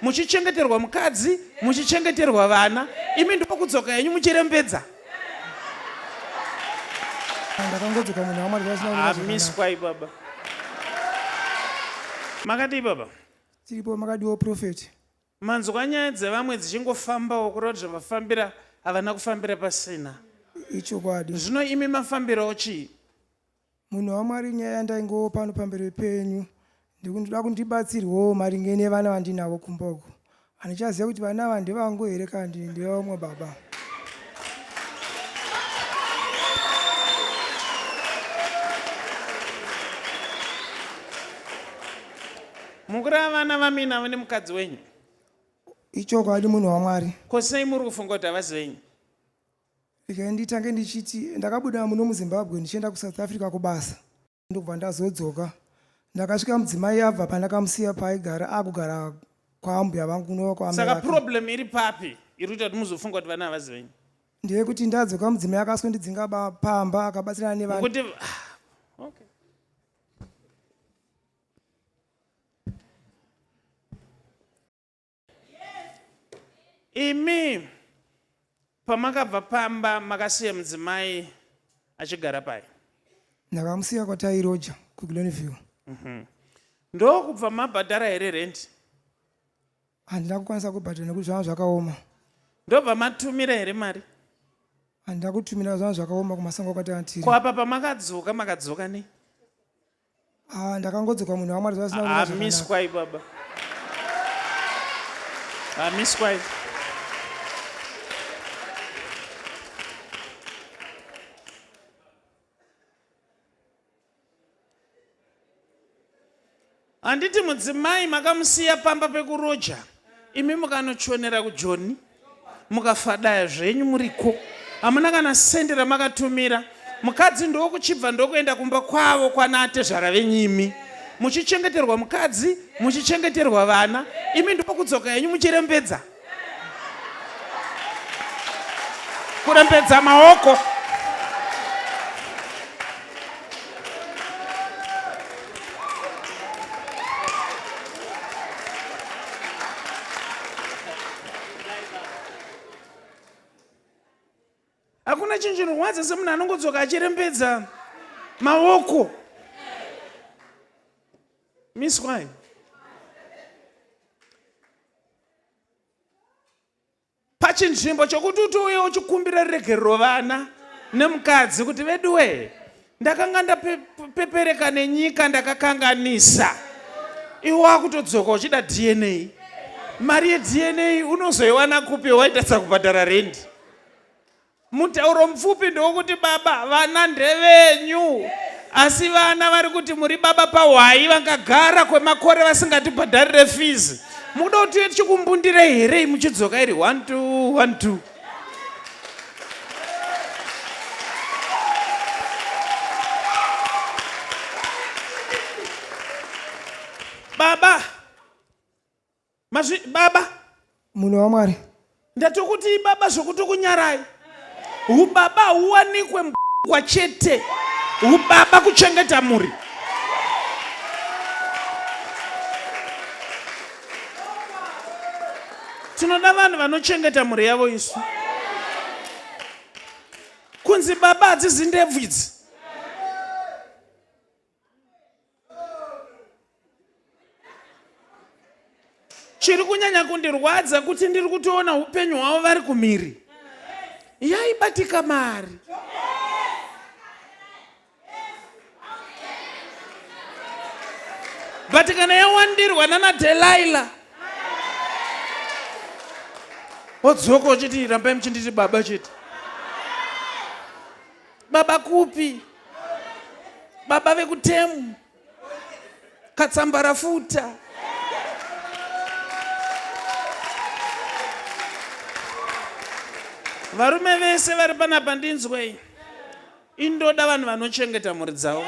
muchichengeterwa mukadzi muchichengeterwa vana imi ndokudzoka henyu muchirembedza ndakangodzoka munhu wamwari amiswai baba makadii baba tiripo makadiwo profeti manzwa nyaya dzevamwe dzichingofambawo kureva kuti zvavafambira havana kufambira pasina ichokwadi zvino imi mafambirawo chii Munhu waMwari nyaya yandaingowo pano pamberi penyu ndikuda kundibatsirwawo maringe nevana vandinavo kumba uko. Handichaziva kuti vana ava ndevangu here kana kuti ndevamwe baba. Mukuru avana vamina vane mukadzi wenyu. Ichokwadi munhu waMwari. Ko sei muri kufunga kuti havasi venyu? Regai nditange ndichiti ndakabuda muno muZimbabwe ndichienda kuSouth Africa kubasa ndokubva ndazodzoka. Ndakasvika mudzimai abva pandakamusiya paaigara akugara kwaambuya vangu kunova kwaamai saka vake. problem iri papi iri kuita kuti muzofunga kuti vana havazi venyu Ndeyekuti ndadzoka mudzimai akasondidzinga ba- pamba akabatsirana nevana. kuti okay. imi pamakabva pamba makasiya mudzimai achigara pai ndakamusiya kwatairoja kuglenview mhm. ndokubva mabhadhara here rendi handina kukwanisa kubhadhara nekuti zvanga zvakaoma ndobva matumira here mari handina kutumira zvanga zvakaoma kumasango kwataatiri kwapa pamakadzoka makadzoka nei Ah, ndakangodzoka munhu wamwari zvasina kunaka zvakanaka. amiswai baba amiswai handiti mudzimai makamusiya pamba pekuroja imi mukanochonera kujoni mukafadaya zvenyu muriko hamuna kana sende ramakatumira mukadzi ndokuchibva ndokuenda kumba kwavo kwanatezvara venyimi muchichengeterwa mukadzi muchichengeterwa vana imi ndokudzoka henyu muchirembedza kurembedza maoko hakuna chinhu chinorwadza semunhu anongodzoka achirembedza maoko miswai pachinzvimbo chokuti uti uye uchikumbira ruregerero vana nemukadzi kuti veduwee ndakanga ndapepereka nenyika ndakakanganisa iwe wakutodzoka uchida dna mari yedna unozoiwana kupi waitadza kubhadhara rendi Mutauro mupfupi ndowokuti baba vana ndevenyu asi vana vari kuti muri baba pahwayi vakagara kwemakore vasingatibhadharire fizi mukuda kuti tive tichikumbundirei here muchidzoka iri one two one two baba Mazvi baba. Munhu waMwari. Ndati kuti ibaba zvokuti kunyarai. Ubaba huwanikwe mbwa chete. Ubaba kuchengeta mhuri. Tinoda vanhu vanochengeta mhuri yavo isu. Kunzi baba hadzizi ndebvu idzi. chiri kunyanya kundirwadza kuti ndiri kutoona upenyu hwavo vari kumhiri yaibatika mari but kana yawandirwa nana delaila odzoka uchiti rambai muchinditi baba chete baba kupi baba vekutemu katsambarafuta varume vese vari panapa ndinzwei indoda vanhu vanochengeta mhuri dzavo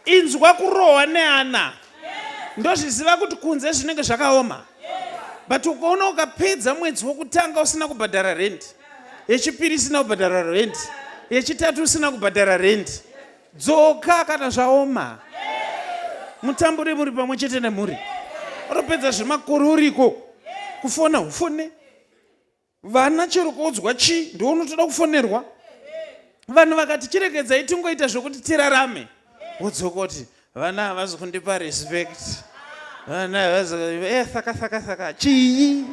inzwa kurohwa neana ndozviziva kuti kunze zvinenge zvakaoma but ukaona ukapedza mwedzi wokutanga usina kubhadhara rendi yechipiri isina kubhadhara rendi yechitatu usina kubhadhara rendi dzoka kana zvaoma mutambure muri pamwe chete nemhuri unopedza zvemakore uriko kufona hufone vana chero kuudzwa chii ndiwo unotoda kufonerwa vanhu vakati chiregedzai tingoita zvekuti tirarame wodzokoti vana havazi kundipa respect vana havazi eh, saka saka saka chii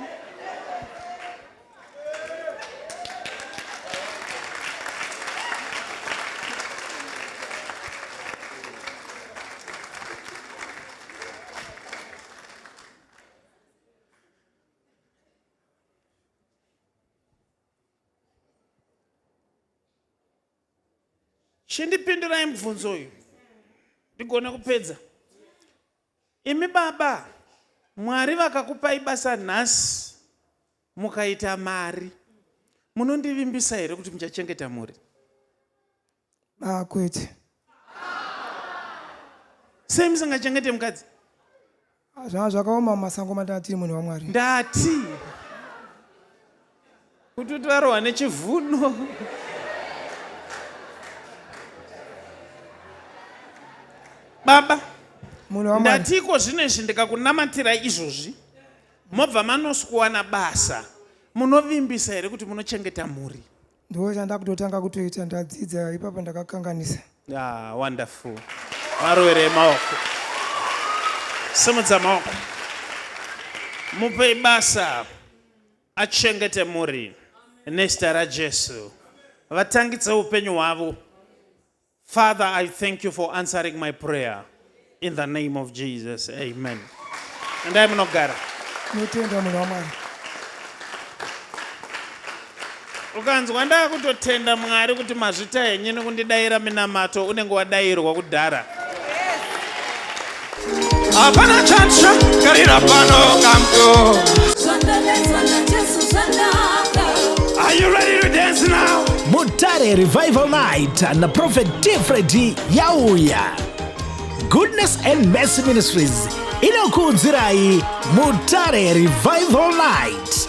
chindipindurai mubvunzo uyu ndigone kupedza imi baba mwari vakakupai basa nhasi mukaita mari munondivimbisa here kuti muchachengeta mhuri ah, kwete sei musingachengete mukadzi Ah, zvanga zvakaoma mumasango matanga tiri munhu wamwari ndati kuti uti varohwa nechivuno baba munhu wamwari ndati iko zvino izvi ndikakunamatirai izvozvi mobva manosikuwana basa munovimbisa here kuti munochengeta mhuri ndiwo chandakutotanga kutoita ndadzidza ipapa ndakakanganisa ah, wonderful varovere maoko simudza maoko mupe basa achengete muri nezita rajesu vatangidze upenyu hwavo Father, I thank you for answering my prayer in the name of Jesus. Amen. And I'm not God. Tinotenda munhu waMwari. ukanzwa ndakutotenda mwari kuti mazvita henyu nekundidaira minamato unenge wadairwa kudhara Hapana chatsva karira pano kamdo. Are you ready to dance now? Mutare Revival Night na Prophet Tifredi yauya. Goodness and Mercy Ministries inokuudzirai Mutare Revival Night